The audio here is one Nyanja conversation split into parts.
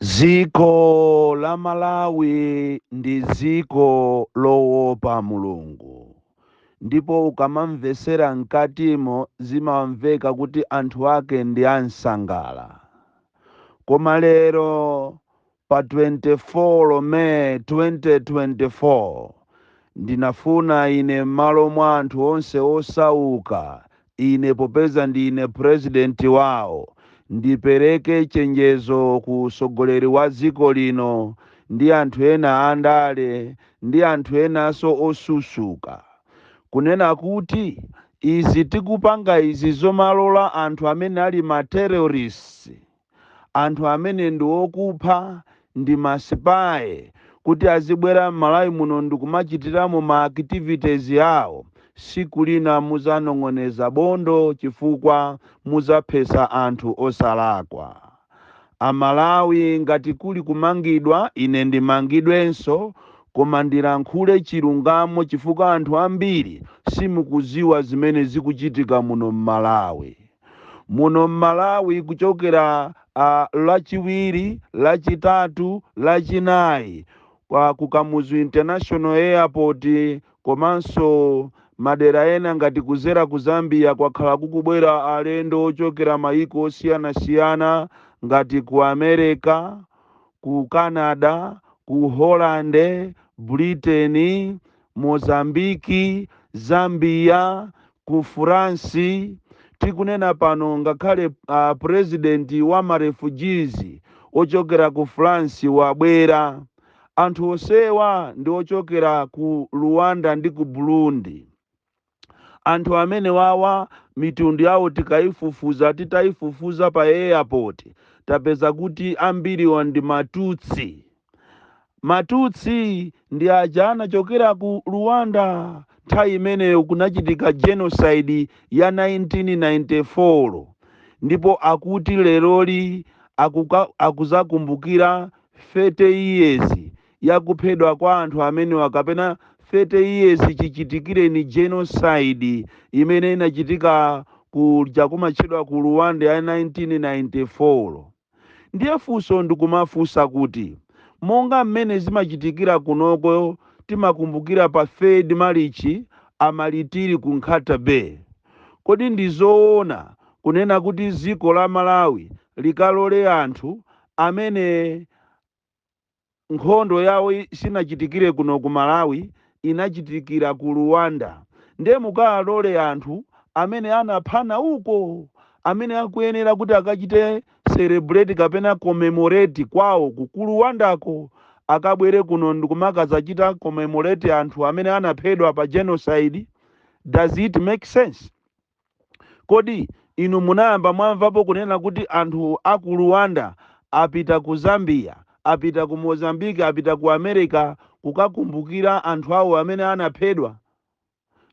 Dziko la Malawi ndi dziko lowopa Mulungu ndipo ukamamvetsera mkatimo zimamveka kuti anthu ake ndi ansangala. Koma lero Pa 24 May 2024, ndinafuna ine m'malo mwa anthu onse osauka, ine popeza ndine President wao, ndipereke chenjezo ku utsogoleri wa dziko lino ndi anthu ena andale ndi anthu enanso osusuka, kunena kuti izi tikupanga izi zomalola anthu amene ali ma terrorists, anthu amene ndi okupha ndi ma spy kuti azibwera mmalawi muno ndikumachitiramo ma activities awo siku lina muzanong'oneza bondo chifukwa muzaphesa anthu osalakwa amalawi ngati kuli kumangidwa ine ndimangidwenso koma ndilankhule chilungamo chifukwa anthu ambiri simukuziwa zimene zikuchitika muno mmalawi. muno m'malawi kuchokera ah, lachiwiri lachitatu lachinayi kwa ku kamuzu international airport komanso madera ena ngati kuzera ku zambia kwakhala kukubwera alendo ochokera mayiko osiyanasiyana ngati ku america ku canada ku holland britain Mozambique, Zambia, ku France, tikunena pano ngakhale president wa ma refugees wochokera ku France wabwera. Anthu onsewa ndi ochokera ku Rwanda ndi ku Burundi. Anthu amenewawa mitundu yawo tikaifufuza, titaifufuza pa airport tapeza kuti ambiriwa ndi ma Tutsi. Ma Tutsi ndi aja anachokera ku Rwanda nthawi imeneyo kunachitika Genocide ya 1994 ndipo akuti leroli akuka, akuzakumbukira 30 years ya kuphedwa kwa anthu amenewa kapena 30 years chichitikireni genocide imene inachitika kuja kumatchedwa ku Rwanda ya 1994 ndiye funso ndikumafunsa kuti monga mmene zimachitikira kunoko timakumbukira pa 3rd Marichi amalitiri ku Nkhata Bay kodi ndi zoona kunena kuti dziko la Malawi likalole anthu amene nkhondo yawo i- sinachitikire kuno ku malawi inachitikira ku rwanda nde mukaalole anthu amene anaphana uko amene akuyenera kuti akachite celebrate kapena commemorate kwawo ku ku rwandako akabwere kuno ndikumakazachita commemorate anthu amene anaphedwa pa genocide does it make sense Kodi inu munayamba mwamvapo kunena kuti anthu a ku Rwanda apita ku Zambia, apita ku Mozambique, apita ku Amerika kukakumbukira anthu awo amene anaphedwa?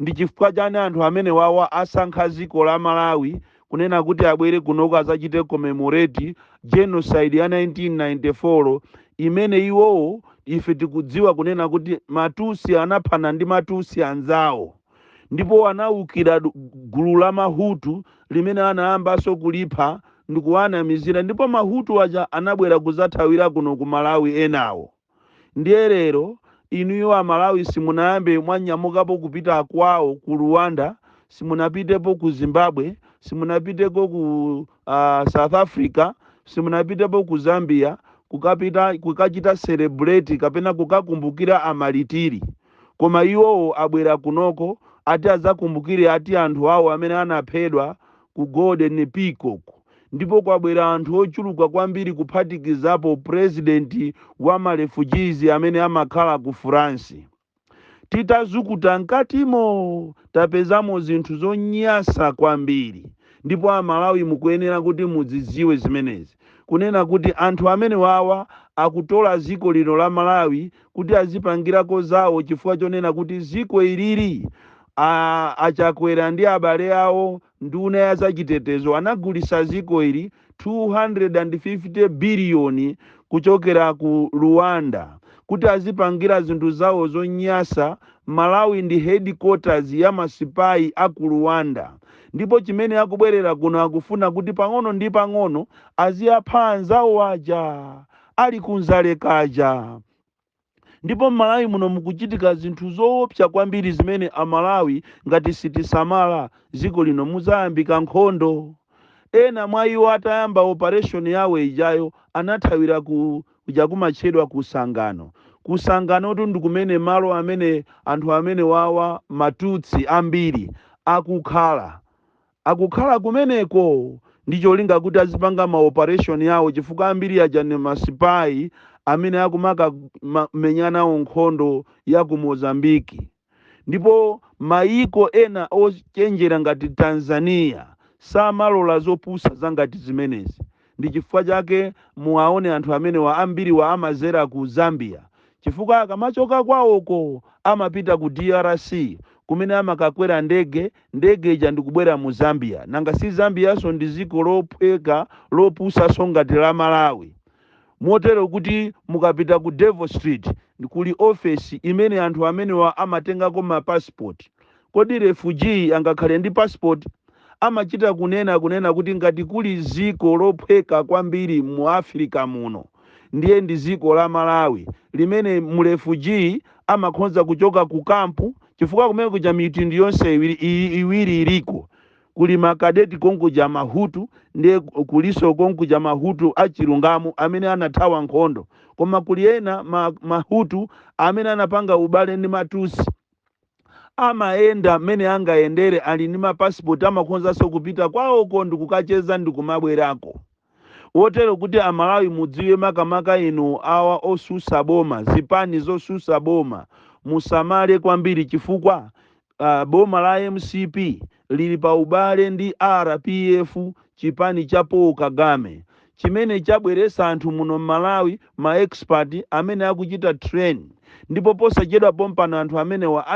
Ndi chifukwa chani anthu amenewawa asankha dziko la Malawi kunena kuti abwere kunoko azachite commemorate Genocide ya 1994 imene iwowo ife tikudziwa kunena kuti ma Tutsi anaphana ndi ma Tutsi anzawo? ndipo anaukira du- gulu la mahutu limene anayambanso kulipha ndikuwanamizira ndipo mahutu aja anabwera kuzathawira kuno ku malawi enawo ndiye lero inuyo amalawi simunayambe mwanyamukapo kupita kwawo ku rwanda simunapitepo ku zimbabwe simunapitepo ku uh, south africa simunapitepo ku zambia kukachita celebrate kapena kukakumbukira amalitiri koma iwowo abwera kunoko ati azakumbukire ati anthu awo amene anaphedwa ku golden peacock ndipo kwabwera anthu ochuluka kwambiri kuphatikizapo president wa ma refugees amene amakhala ku france titazukuta mkatimo tapezamo zinthu zonyasa kwambiri ndipo amalawi mukuyenera kuti mudziziwe zimenezi kunena kuti anthu amenewawa akutola ziko lino la malawi kuti azipangirako zawo chifukwa chonena kuti ziko iliri a chakwera ndi abale awo nduna ya zachitetezo anagulisa ziko ili 250 biliyoni kuchokera ku rwanda kuti azipangira zinthu zawo zonyasa malawi ndi headquarters ya masipayi a ku rwanda ndipo chimene akubwerera kuno akufuna kuti pang'ono ndi pang'ono aziyapha anzawo aja ali ku Dzalekaja. Ndipo m'Malawi muno mukuchitika zinthu zoopsa kwambiri zimene Amalawi ngati sitisamala, dziko lino mudzayambika nkhondo. Ena mwa iwo atayamba operation yawo ijayo anathawira ku kuja kumatchedwa ku Sangano. Ku Sanganotu ndi kumene malo amene anthu amenewawa, Matutsi ambiri, akukhala. Akukhala kumeneko ndi cholinga kuti azipanga ma operation awo chifukwa ambiri aja ndi ma spy amene akumaka ma, menya nawo nkhondo ya ku Mozambique. Ndipo mayiko ena ochenjera ngati Tanzania samalola zopusa zangati zimenezi. Ndi chifukwa chake muwaone anthu amenewa ambiriwa amazera ku Zambia chifukwa akamachoka kwaoko amapita ku drc kumene amakakwera ndege, ndege ija ndikubwera mu Zambia. Nanga si Zambianso ndi dziko lophweka lopusanso ngati la Malawi. Motero kuti mukapita ku Devil's Street kuli office imene anthu amenewa amatengako ma passport Kodi refugee angakhale ndi passport? Amachita kunena kuti ngati kuli ziko lophweka kwambiri mu Africa muno ndiye ndi ziko la Malawi limene mu refugee amakhonza kuchoka ku camp chifukwa kumene kuja mitundu yonse iwiri iliko kuli ma cadet konkuja ma Hutu ndiye kuliso konkuja ma Hutu a chilungamo amene anathawa nkhondo koma kuli ena ma Hutu amene anapanga ubale ndi ma Tutsi Amayenda mmene angayendere, ali ndi mapasipoti, amakhonzanso kupita kwawoko ndikukacheza ndikumabwerako. Kotero kuti a Malawi mudziwe makamaka inu awa osusa boma, zipani zosusa boma musamale kwambiri chifukwa boma la mcp lili pa ubale ndi R.P.F chipani cha Paul Kagame chimene chabweretsa anthu muno Mmalawi ma expert amene akuchita train ndipo posachedwa pompano anthu amenewa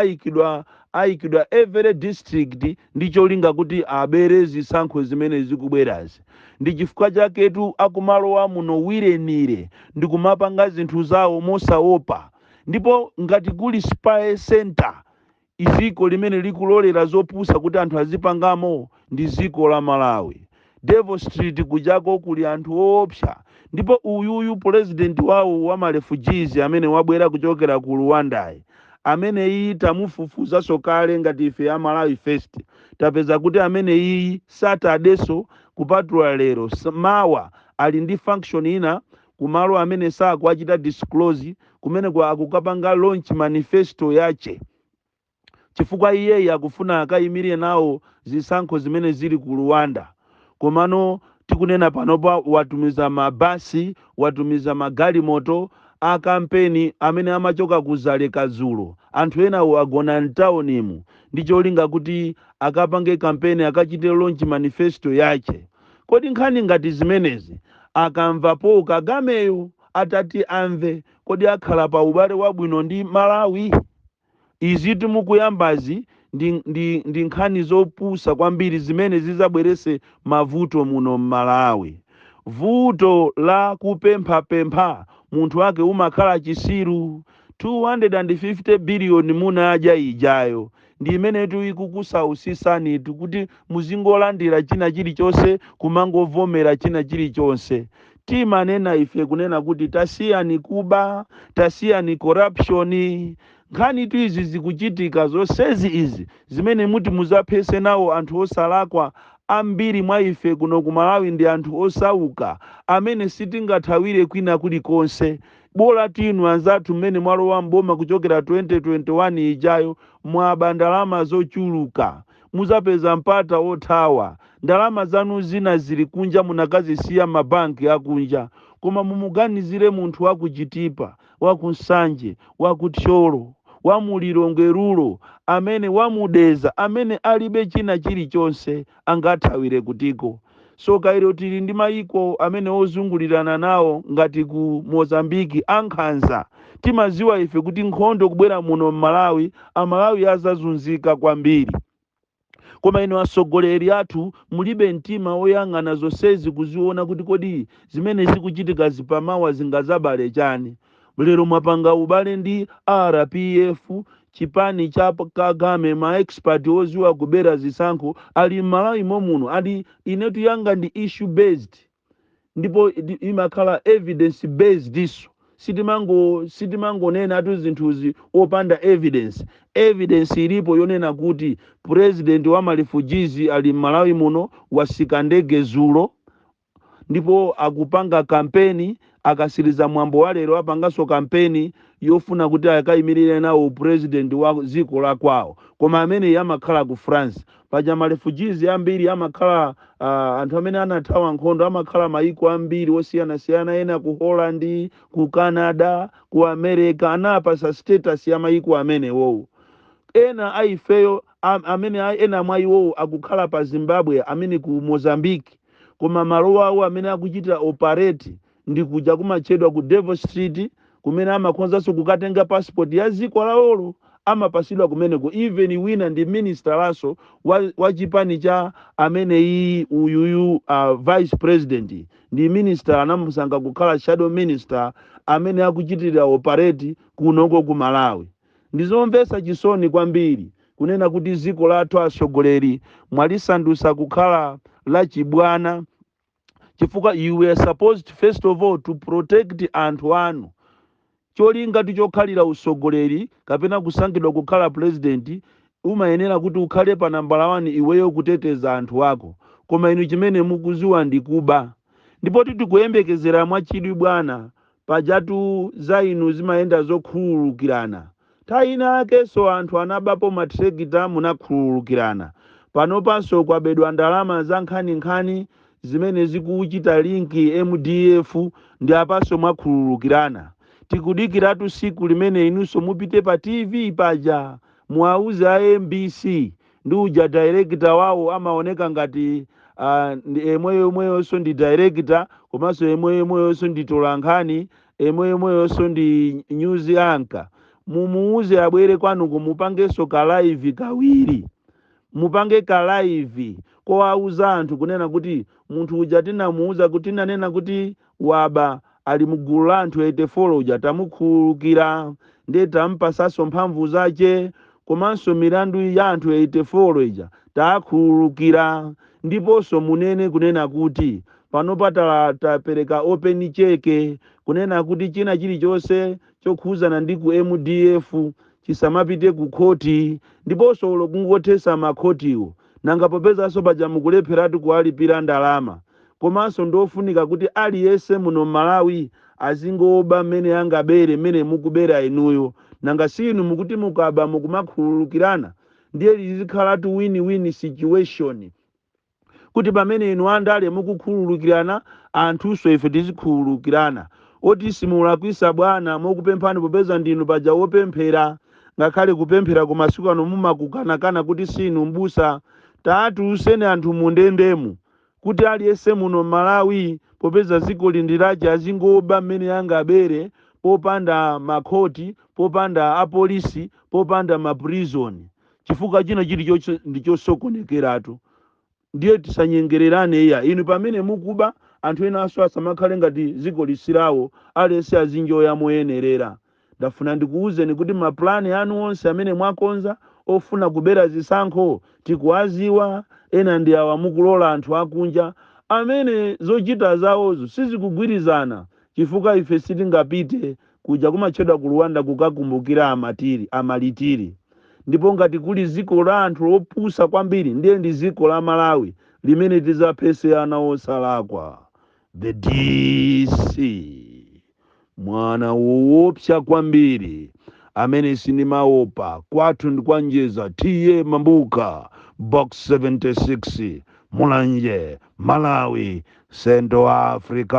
ayikidwa every district ndi cholinga kuti abere zisankho zimene zikubwerazi ndi chifukwa chaketu akumalowa muno wirenire ndikumapanga zinthu zawo mosaopa ndipo ngati kuli spy centre i dziko limene likulolera zopusa kuti anthu azipangamo ndi dziko la Malawi. Devil street kujako kuli anthu oopsa ndipo uyuyu pulezidenti wawo wa ma refugees amene wabwera kuchokera ku Ruwandayi ameneyiyi tamufufuzanso kale ngati ife ya Malawi first tapeza kuti ameneyiyi Saturdayso kupatula lero mawa ali ndi function ina ku malo amene sakuwachita disclose, kumeneko akukapanga launch manifesto yache chifukwa iyeyi akufuna akayimire nawo zisankho zimene zili ku Rwanda komano tikunena panopa watumiza ma bus, watumiza ma galimoto a kampeni amene amachoka ku Dzaleka dzulo, anthu enawo agona mtaunimu ndi cholinga kuti akapange kampeni akachite launch manifesto yache. Kodi nkhani ngati zimenezi akamva Paul Kagameyo atati amve kodi akhala pa ubale wabwino ndi Malawi? Izitu mukuyambazi ndi nkhani zopusa kwambiri zimene zizabwerese mavuto muno Mmalawi. Vuto la kupemphapempha munthu wake umakhala chisiru. 250 billion munadya ijayo ndi imenetu ikukusausisanitu kuti muzingolandira china chilichonse kumangovomera china chilichonse timanena ife kunena kuti tasiyani kuba tasiyani corruption nkhanitu izi zikuchitika zonsezi izi zimene muti muzaphese nawo anthu osalakwa ambiri mwa ife kuno ku malawi ndi anthu osauka amene sitingathawire kwina kulikonse Bolati inu anzathu mmene mwalowa m'boma kuchokera 2021 ijayo mwaba ndalama zochuluka. Muzapeza mpata othawa. Ndalama zanu zina zili kunja munakazisiya mma bank akunja. Koma mumuganizire munthu wa ku Chitipa, wa ku Nsanje, wa ku Thyolo, wa mu Lilongwe rural, amene wa mu Dedza amene alibe china chilichonse. angathawire kutiko? Tsoka ilo tili ndi mayiko amene ozungulirana nawo ngati ku Mozambique ankhanza. Timaziwa ife kuti nkhondo kubwera muno mmalawi amalawi azazunzika kwambiri. Koma inu atsogoleri athu mulibe mtima oyang'ana zonsezi kuziona kuti kodi zimene zikuchitikazi pamawa zingazabale chani? Lero mwapanga ubale ndi R P F, chipani cha Kagame, ma expert oziwa kubera zisankho ali m'Malawi momuno and ine tu yanga ndi issue based ndipo imakhala evidence based so sitimangonenatu zinthuzi opanda evidence. Evidence ilipo yonena kuti president wa ma refugees ali m'Malawi muno wasika ndege zulo ndipo akupanga kampeni, akasiliza mwambo wa lero apanganso kampeni yofuna kuti akaimilire nawo u president wa dziko la kwawo, koma amene amakhala ku France, paja ma refugees ambiri amakhala uh, anthu amene anathawa nkhondo amakhala mayiko ambiri osiyanasiyana, ena ku Holland, ku Canada, ku America, anapasa status ya mayiko amenewowo. Ena a ifeyo am- amene a- ena mwa iwowo akukhala pa Zimbabwe, amene ku Mozambique, koma malo awo amene akuchitira operate ndi kuja kumatchedwa ku Devil Street kumene amakhozanso kukatenga passport ya dziko lawolo amapasidwa kumeneko even wina ndi ministerso wa, wa chipani cha ameneyi uyuyu uh, vice president ndi minister anamusankha kukhala shadow minister amene akuchitira operate kunoko ku malawi Ndizomvetsa chisoni kwambiri kunena kuti dziko lathu atsogoleri mwalisandutsa kukhala la chibwana chifukwa you were supposed first of all to protect anthu anu. Cholingatu chokhalira utsogoleri kapena kusankhidwa kukhala president umayenera kuti ukhale pa nambala one iweyo kuteteza anthu ako koma inu chimene mukuziwa ndi kuba. Ndipotu tikuyembekezera mwachidwi bwana Pajatu za inu zimayenda zokhululukirana. Nthawi ina yakenso anthu anabapo mathirakita munakhululukirana. Panopanso kwabedwa ndalama za nkhaninkhani zimene zikuchita link mdf ndi apanso mwakhululukirana. Tikudikiratu tsiku limene inunso mupite pa TV paja muwauze a mbc ndi uja director wawo amaoneka ngati emweyomweyonso ndi director komanso emweyomweyonso ndi mtolankhani emweyomweyonso ndi news anchor mumuuze abwere kwanuko mupangenso ka live kawiri mupange ka live kowauza anthu kunena kuti munthu uja tinamuuza kuti tinanena kuti waba ali mugulu la anthu 84 uja tamukhululukira nde tampatsanso mphamvu zache komanso milandu ya anthu 84 ija taakhululukira ndiponso munene kunena kuti panopa tala tapereka open cheke kunena kuti china chilichonse chokhuzana ndi ku mdf chisamapite ku khoti ndiponso olo kungothetsa makhotiwo Nanga popezanso paja mukulepheratu kuwalipira ndalama, komanso ndiofunika kuti aliyense muno mmalawi azingoba mmene angabere mmene mukubera inuyo, nanga siinu mukuti mukaba mukumakhululukirana ndiye lizikhalatu win win situation kuti pamene inu andale mukukhululukirana anthunso ife tizikhululukirana. Oti simulakwitsa bwana mokupemphani popeza ndinu paja wopemphera. ngakhale kupempherako masiku ano mumakukanakana kuti siinu m'busa taatuluseni anthu mundendemu kuti aliyense muno m'malawi popeza dzikoli ndilache azingoba mmene angabere popanda makhoti popanda apolisi popanda ma prison chifukwa china chili ndichosokonekeratu Ndiye tisanyengererane iya. Inu pamene mukuba, anthu enanso asamakhale ngati dzikoli silawo, aliyense azinjoya moyenerera. Ndafuna ndikuuzeni kuti ma plan anu onse amene mwakonza ofuna kubera zisankho tikuwadziwa, ena ndi awa mukulola anthu akunja amene zochita zawozo sizikugwirizana chifukwa ife sitingapite Kuja kumatchedwa ku Rwanda kukakumbukira amatiri, amalitiri. Ndipo ngati kuli dziko la anthu opusa kwambiri ndiye ndi dziko la Malawi limene tidzaphetse ana osalakwa. The DC mwana woopsa kwambiri amene sindimaopa kwathu ndi kwa Njeza TA Mabuka box 76 mulanje malawi Central Africa.